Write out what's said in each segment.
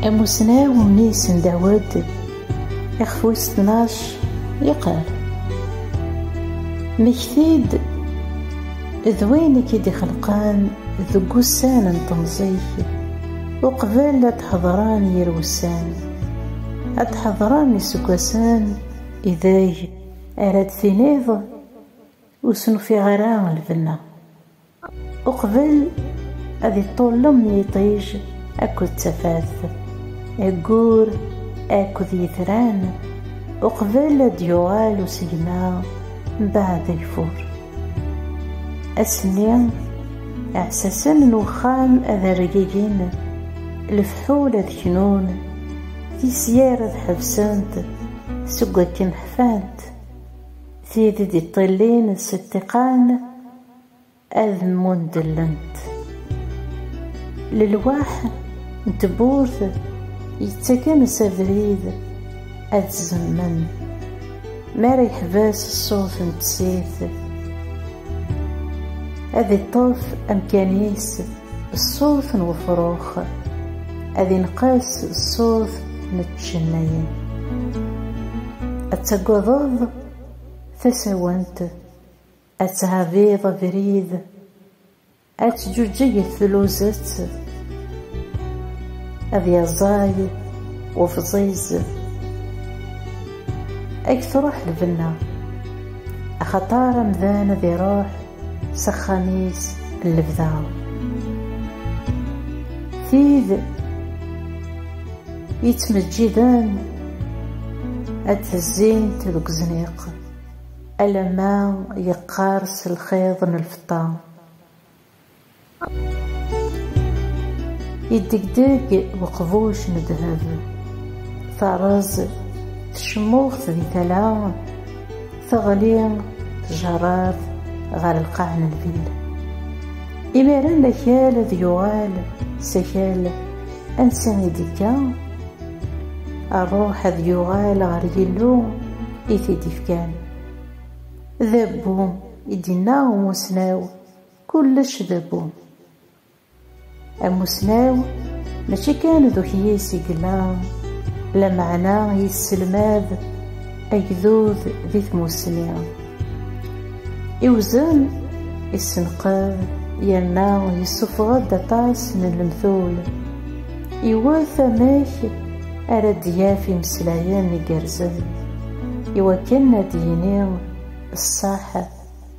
Amussnaw Miss Dawed ixef wis tnac yeqqar Mmekti-d d wayen i k-id-ixelqan deg wussan n temẓi-k uqbel ad d-ḥedṛen yir wussan ad d-ḥedṛen iseggasen ideg ara d-tiniḍ Ur sen-ufiɣ ara lbenna. Uqbel ad iṭṭullem yiṭij akked tafat, ayyur akked yitran, uqbel ad d-yuɣal usegma mbeɛd ageffur. Ass-nni, iɛessasen n uxxam ad rgigin, lefḥul ad knun, tisyar ad ḥebsent seg wakken ḥfant, Tid i d-iṭṭillin s ṭṭiqan ad mmundellent. Lelwaḥ n tewwurt yettakan s abrid ad zemmen. Mi ara yeḥbes ṣṣut n tsirt. Ad iṭṭef amkan-is ṣṣut n wefrux, ad inqas ṣṣut n tcennayin. Ad tagadeḍ tasawent, ad tɛabiḍ abrid, Ad teǧǧuǧeg tluzett, ad yaẓay ufẓiz, ad truḥ lbenna, axaṭer amdan ad iruḥ s axxam-is n lebda. Tid yettmeǧǧiden ad tezzint deg uzniq alamma yeqqers lxiḍ n lfeṭṭa. Yeddegdeg uqbuc n ddheb, terreẓ tecmuxt di tala, teɣli tjerrat ɣer lqaɛ n lvil. Imir-a akal ad yuɣal s akal ansa i d-yekka, rruḥ ad yuɣal ɣer Yillu i t-id-ifkan. D abbu, i d-yenna umussnaw, kullec d abbu. Amussnaw mačči kan d ukyis i yella, lameɛna yesselmad agdud di tmussni. Iwzen, issenqed yerna yessufeɣ-d aṭas n lemtul, iwet amek ara d-yaf imeslayen igerrzen iwakken ad d-yini ṣṣeḥ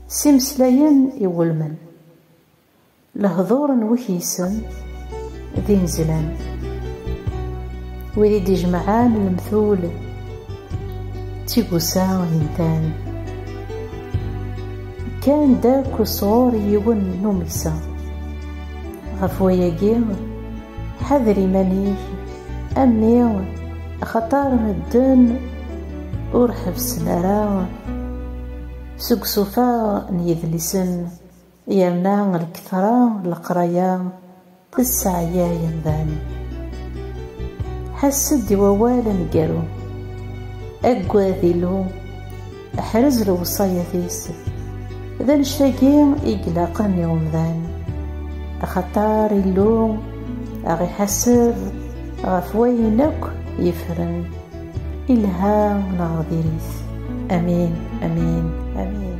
s imeslayen iwulmen. Lehduṛ n wekyisen d inezzlan, wid i d-ijemɛen lemtul d tigusa intan, kkan-d akk sɣur yiwen n umeksa. Ɣef wayagi, Ḥader iman-ik a mmi axaṭer medden ur ḥebsen ara seg usufaɣ n yedlisen yerna lketṛa n leqraya tesseɛyay amdan. Ḥess-d i wawal aneggaru, aggad Illu. Ḥrez lewṣayat yessef. D annect-agi i ilaqen i umdan. Axaṭer Illu ad ɣ-iḥaseb ɣef wayen akk yefren, ilha neɣ diri-t. Amin, amin, amin.